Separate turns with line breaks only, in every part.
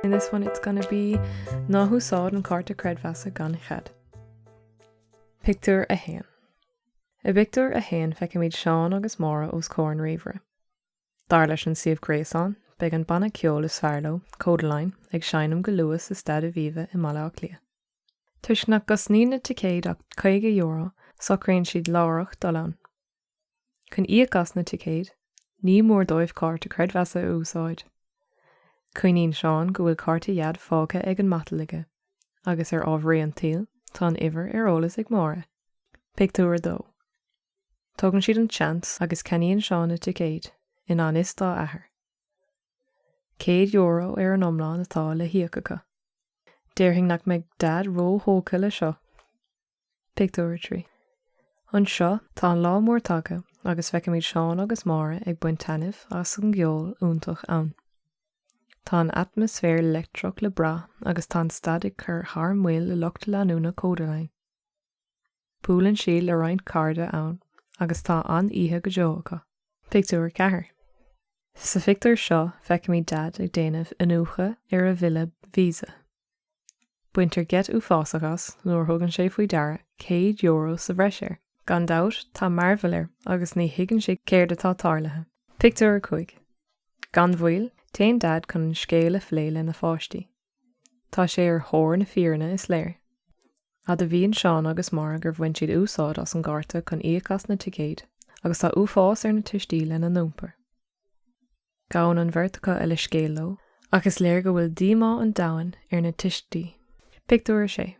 In this one it's gonna be Ná húsáid an cárta creidmheasa gan chead. Pictiúr a haon. I bpictiúr a haon feicimid Seán agus Máire os comhair an ríomhaire. Dar leis an suíomh gréasáin, beidh an banna ceoil is fearr leo, Kodaline, ag seinm go luath sa Staid Aviva i mBaile Átha Cliath. Toisc nach gcosnaíonn na ticéid ach €50, socraíonn siad láithreach dul ann. Chun íoc as na ticéid, ní mór dóibh cárta creidmheasa a úsáid. Cuimhníonn Seán go bhfuil cárta Dhaid fágtha ar an matal aige, agus ar ámharaí an tsaoil, tá an uimhir ar eolas ag Máire. Pictiúr 2 Tógann siad an seans agus ceannaíonn Seán na ticéid, i ngan fhios dá athair. €100 ar an iomlán atá le híoc acu. Déarfainn nach mbeidh Daid ró-thógtha le seo! Pictiúr 3. Anseo, tá an lá mór tagtha agus feicimid Seán agus Máire ag baint taitneamh as an gceol iontach ann. Tá an atmaisféar leictreach le brath agus tá an staid ag cur thar maoil le lucht leanúna Kodaline. Buaileann siad le roinnt cairde ann agus tá an-oíche go deo acu. Pictiúr 4 Sa phictiúr seo, feicimid Daid ag déanamh iniúchadh ar a bhille Visa. Baintear geit uafásach as nuair a thugann sé faoi deara céad euro sa bhreis air. Gan dabht, tá mearbhall air agus ní thuigeann sé céard atá tarlaithe. Pictiúr 5 Gan mhoill, téann Daid chun an scéal a phlé lena pháistí. Tá sé ar thóir na fírinne, is léir. Admhaíonn Seán agus Máire gur bhain siad úsáid as an gcárta chun íoc as na ticéid agus tá uafás ar na tuistí lena n-iompar. Gabhann an bheirt acu leithscéal leo, ach is léir go bhfuil díomá an domhain ar na tuistí. Pictiúr 6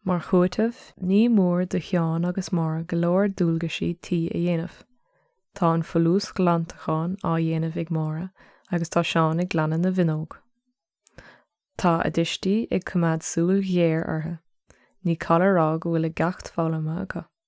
Mar chúiteamh, ní mór do Sheán agus Máire go leor dualgaisí tí a dhéanamh. Tá an folúsghlantachán á dhéanamh ag Máire agus tá Seán ag glanadh na bhfuinneog. Tá a dtuistí ag coimeád súil ghéar orthu. Ní call a rá go bhfuil a gceacht foghlamtha acu.